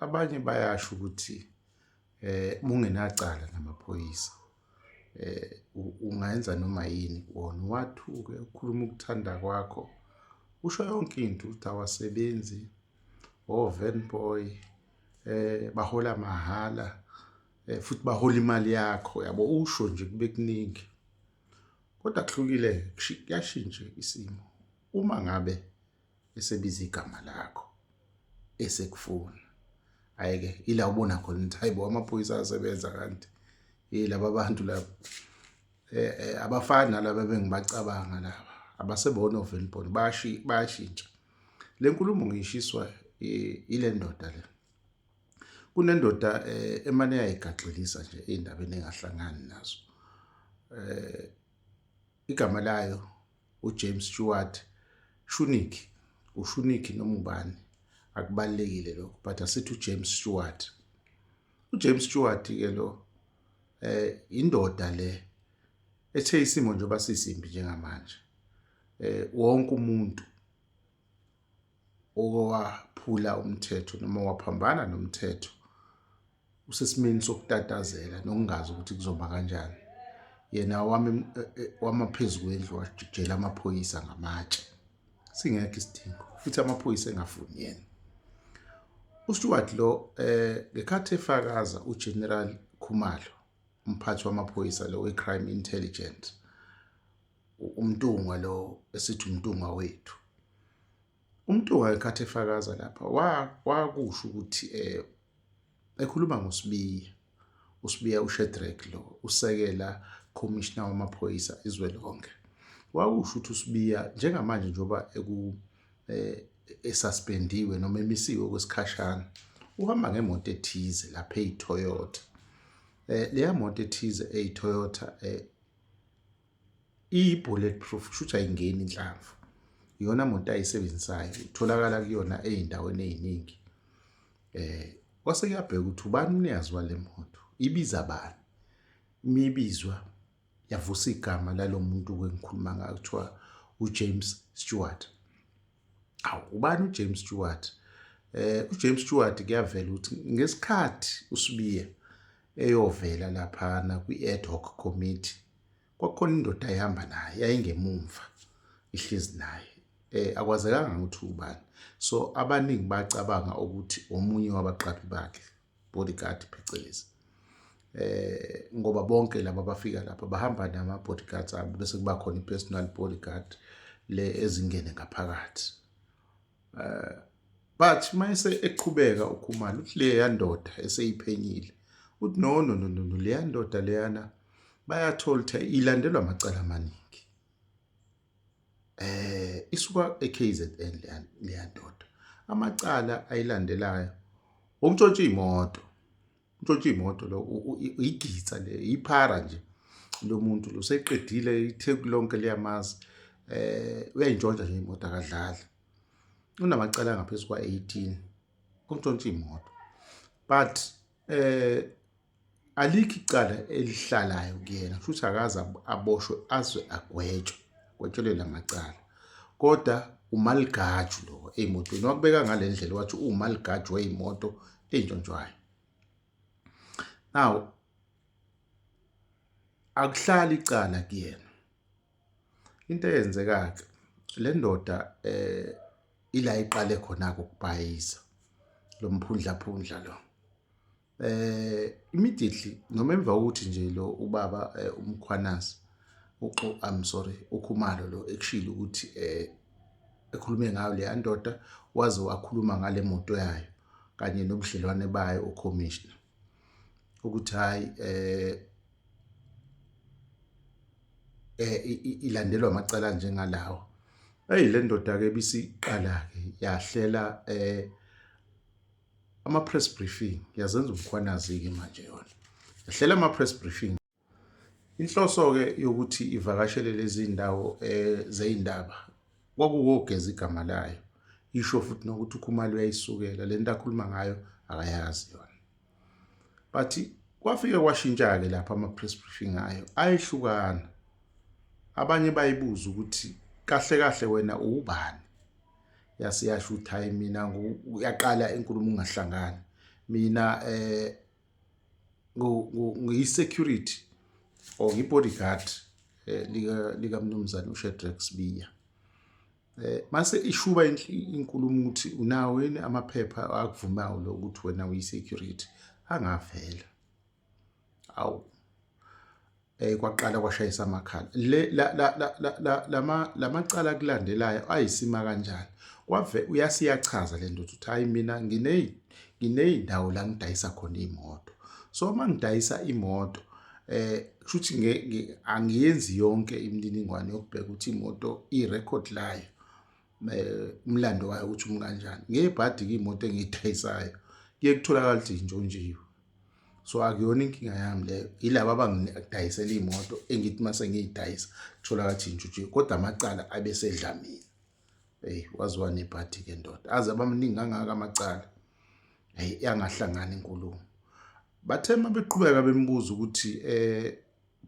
abanye bayasho ukuthi eh mungenacala namaphoyisa eh ungayenza noma yini wona wathuke ukhuluma ukuthanda kwakho usho yonke into ukuthi awasebenzi oven oh, boy eh bahola mahala eh, futhi bahola imali yakho yabo usho nje kube kuningi kodwa kuhlukile kuyashintsha isimo uma ngabe esebiza igama lakho esekufuna ayike ila ubona khona ukuthi hayibo amaphoyisa asebenza kanti yilaba abantu laba eh, eh abafana laba bengibacabanga laba abasebona ovelibona bashi bayashintsha lenkulumo ngishiswa ile ndoda le kunendoda eh, emane yayigaxelisa nje indaba enengahlangani nazo eh igama layo uJames Stewart Shunik uShunik noma ubani akubalekile lokho but asithi uJames Stewart uJames Stewart ke lo eh indoda le ethe isimo nje basisimbi njengamanje eh wonke umuntu owaphula umthetho noma waphambana nomthetho usesimeni sokutatazela nokungazi ukuthi kuzoba kanjani yena wami eh, eh, wamaphezu kwendlu wajela amaphoyisa ngamatshe singekho isidingo futhi amaphoyisa engafuni yena uStewart lo eh ngekhathi efakaza uGeneral Khumalo umphathi wamaphoyisa lo weCrime Intelligence umntungwa lo esithi umntungwa wethu Umtuka ekhathi efakaza lapha wakusho ukuthi um ekhuluma ngoSibiya, uSibiya uShedrack lo usekela khomishina wamaphoyisa izwe lonke. Wakusho ukuthi uSibiya njengamanje njengoba eku um esuspendiwe noma emisiwe okwesikhashana, uhamba ngemoto ethize lapha eyiToyota. Um leya moto ethize eyiToyota um iyi-bullet proof kushuthi ayingeni inhlamvu iyona muntu ayisebenzisayo itholakala kuyona ey'ndaweni ey'ningi eh kwase kuyabheka ukuthi ubani umnikazi wale moto ibiza bani imibizwa yavusa igama lalo muntu kwengikhuluma ngayo kuthiwa uJames Stewart awu ubani ujames stewart eh ujames stewart kuyavela ukuthi ngesikhathi usibiye eyovela laphana kwi-ad hoc committee kwakukhona indoda ayihamba naye yayingemumva ihlezi naye eh akwazekanga ukuthi ubani so abaningi bacabanga ukuthi omunye wabaqaphi bakhe bodyguard phecelezi eh ngoba bonke laba bafika lapha bahamba nama bodyguards abo bese kuba khona ipersonal bodyguard le ezingene ngaphakathi eh but mayise eqhubeka ukhumalo uthi le yandoda eseyiphenyile uthi no no no no le yandoda leyana bayatholtha ilandelwa amacala amaningi eh isuka eKZN leyandoda amacala ayilandelayo umtshontsha imoto umtshontsha imoto lo igitsa le iphara nje lomuntu lo seqedile itheku lonke liyamazi eh uyayintshontsha nje imoto akadlali unamacala ngaphezulu kwa18 umtshontsha imoto but Eh alikho icala elihlalayo kuyena futhi akaze aboshwe azwe agwetshwe gwetshelwe lamacala kodwa umaligaju lo emotweni wakubeka ngalendlela wathi umaligaju weyimoto entshontshwayo now akuhlali icala kuyena Into eyenzeka-ke le ndoda um ila iqale khona-ke ukubhayiza lo mphundlaphundla lo um immediately noma emva kokuthi nje lo ubaba um umkhwanazi uxo i'm sorry ukhumalo lo ekushilo ukuthi um ekhulume ngayo leya ndoda waze wakhuluma ngale moto yayo kanye nobudlelwane bayo ukhomishina ukuthi hayi eh eh ilandelwa amacala njengalawo hey le ndoda ke bisiqala ke yahlela eh ama press briefing yazenza umkhwanazi ke manje yona yahlela ama press briefing Inhloso-ke yokuthi ivakashele lezi ndawo um eh, zey'ndaba kwakuwogeza igama layo isho futhi nokuthi ukhumalo uyayisukela le nto akhuluma ngayo akayazi yona but kwafike kwashintsha-ke lapho ama-press briefing ayo ayehlukana abanye bayibuza ukuthi kahle kahle wena uwubani yase yasho ukuthi hhayi mina uyaqala inkulumo ungahlangani mina um ngiyisecurity or ngibodyguard eh, lika likamnumzane uShedrack Sibiya eh mase ishuba inkulumo ukuthi unawo yini amaphepha akuvumayo lo ukuthi wena uyisecurity angavela awu eh kwaqala kwashayisa amakhala le la la la la lama lamacala kulandelayo ayisima kanjani kwave uyasiyachaza lento ukuthi hayi mina ngine ngineyindawo la ngidayisa khona imoto so uma ngidayisa imoto eh shuthi nge angiyenzi yonke imininingwane yokubheka ukuthi imoto irecord layo umlando wayo ukuthi umi kanjani ngiyibhadi-ke imoto engiyidayisayo kuye kutholakala ukuthi yintshontshiwe so akuyona inkinga yami leyo yilaba abangidayisela iy'moto engithi uma sengiyidayisa kutholakala ukuthi yintshontshiwe kodwa amacala abesedlamini eyi waziwa nebhadi-ke ndoda aze abamningi kangaka amacala eyi yangahlangani inkulumo bathe uma beqhubeka bembuza ukuthi um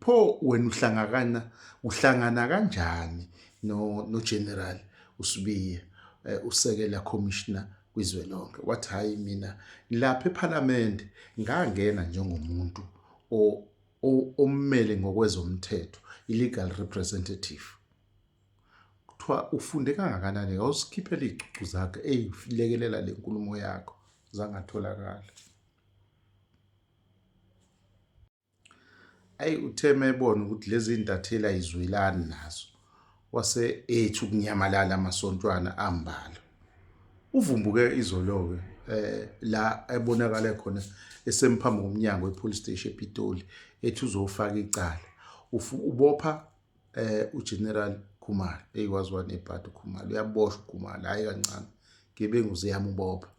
pho wena uhlangakana uhlangana kanjani no no general usibiya eh, usekela commissioner kwizwe lonke wathi hayi mina lapha eparliament ngangena njengomuntu ommele ngokwezomthetho illegal representative kuthiwa ufunde kangakanani awusikhiphela izicucu zakhe eyilekelela le nkulumo yakho zangatholakala Ayi uthe mebona ukuthi lezi intatheli ayizwelani nazo wase ethi ukunyamalala amasontwana ambala. Uvumbuke izolo-ke eh la ebonakale khona esemphambi komnyango wepolice station ePitoli ethi uzofaka icala. Ufu- Ubopha eh uGeneral Khumalo eyikwazi wanebhadi uKhumalo uyaboshwa uKhumalo hayi kancane. Gebengu ziyamubopha.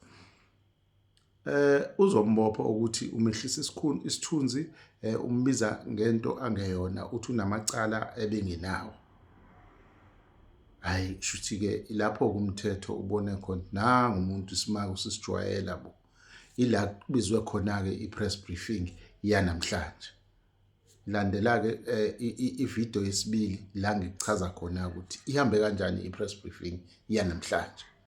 eh uzombopha ukuthi umehlisa isikhulu isithunzi eh umbiza ngento angeyona uthi unamacala ebengenawo hayi shuthi ke ilapho kumthetho ubone khona nangu umuntu isimaka usisijwayela bo ila kubizwe khona ke ipress briefing yanamhlanje landela ke eh, ivideo yesibili la ngichaza khona ukuthi ihambe kanjani ipress briefing yanamhlanje